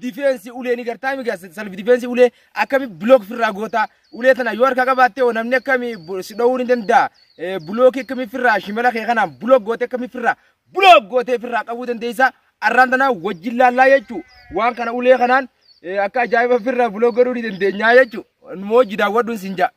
difeensi ulee ni gartaa mi gaas salf difeensi ulee akkami bilook firraa goota ulee tana yoo harka qabaatte hoo namni akkami bu- si dhowuu ni danda'a Eh, bilookii akkami firraa shimala kee kanaan bilook goote akkami firraa bilook gootee firraa qabuu dandeessa arraan tana wajjin laallaa jechuu waan kana ulee kanaan eh, akka ajaa'iba firraa bilook godhuu ni dandeenya jechuu nu hojii daawwadhuun sin ja'a.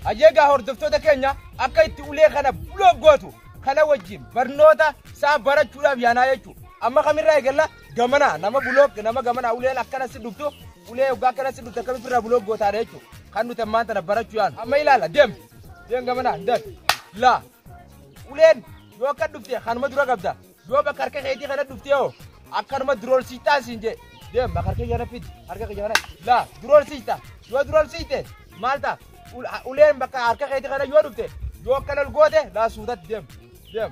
Ayyeegaa hordoftoota keenya akka itti ulee kana buloo gootu kana wajjin barnoota isaa barachuudhaaf yaanaa jechuudha. Amma kamirraa eegalla Gamana nama bulok nama gamana uleen akkana si dubtu ulee yoggaa akkana si dubtu akkamitti irraa bulok gootaadha jechuudha. Kan nuti ammaan tana barachuu yaanu. Amma ilaala deem deem gamana deem laa uleen yoo akka dhufte kanuma dura qabda yoo bakka harka keetii kana dhuftee hoo akkanuma durool siixtaa siin jee deem bakka harka kana fidi harka kiyya kana laa durool siixta yoo durool siixte maal ta'a uleen bakka harka keetii kana yoo dhufte yoo akkana ol goote laa suutatti deem deem.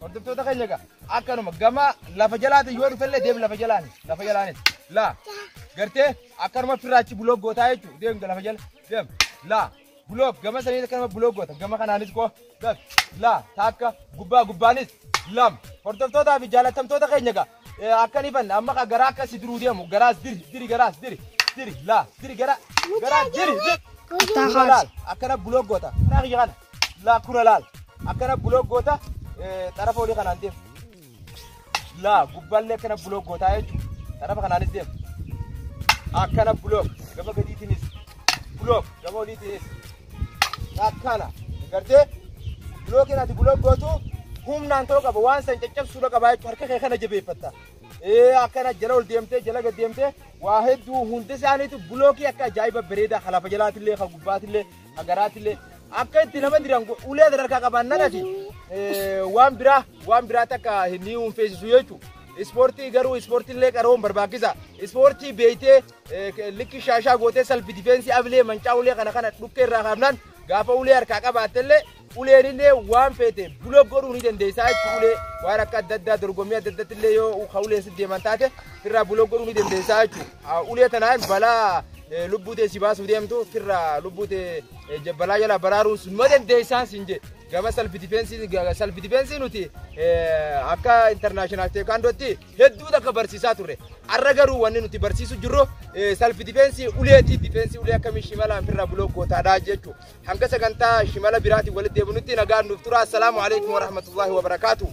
Hordoftoota keenya egaa akkanuma gama lafa jalaatiin yoo dhufellee deem lafa jalaani lafa jalaani laa gartee akkanuma firraachi buloog gootaa jechuudha deem lafa jala deem laa buloog gama saniin akkanuma buloog goota gama kanaanis koo gab laa taakka gubbaa gubbaanis lam hordoftootaa fi jaalattamtoota keenya egaa Akka ni fanna amma ka garaa akka si diruu deemu garaas diri diri garaas diri diri laa diri garaa garaa diri diri. Kuttaa Kura laal kaasi. akkana buloog goota karaa kiyya kana laa kura laal akkana buloog goota eh, xarafa olii kanaan deemu laa gubbaallee akkana buloog gootaa jechuudha xarafa kanaanis deemu akkana buloog gama gadiitiinis buloog gama oliitiinis akkana gartee bilookiin ati bilook gootu humnaan ta'uu qaba waan san caccabsuudha qaba jechuudha harka kee kana jabeeffatta ee akkana jala ol deemtee jala gad deemtee waa hedduu hundi isaaniitu bilookii akka ajaa'iba bareedaa kan lafa jalaatillee kan gubbaatillee kan garaatillee akka itti nama diran ulee sadarkaa qaban nanati waan biraa waan biraa takka hin himuun feesisu jechuudha. Ispoortii garuu ispoortiillee qaroon barbaachisa. Ispoortii beeytee likki shaashaa gootee salfi difeensii abilee mancaa ulee kana kana dhukkee irraa kaafnaan gaafa ulee harkaa qabaattellee uleen illee waan feete bula godhuu ni dandeessaa jechuun ulee waan akka adda addaa dorgommii adda addaatti illee yoo ka uleen si deeman taate firraa bula godhuu ni dandeessaa jechuudha. Ulee tanaan balaa lubbuu tee si baasuu deemtu firraa lubbuu tee balaa jala baraaruun sun ma dandeessaan siin jedhe. gama salfi difeensii salfi difeensii nuti akka intarnaashinaal teekaandootti hedduu takka barsiisaa turre. Arra garuu wanni nuti barsiisu jirru salfi difeensii uleeti. Difeensii ulee akkamii shimalaan firraa buloo gootaadha jechu. Hanga sagantaa shimala biraatiin walitti deebinutti nagaan nuuf tura. Assalaamu alaikum wa rahmatullahi wa barakaatu.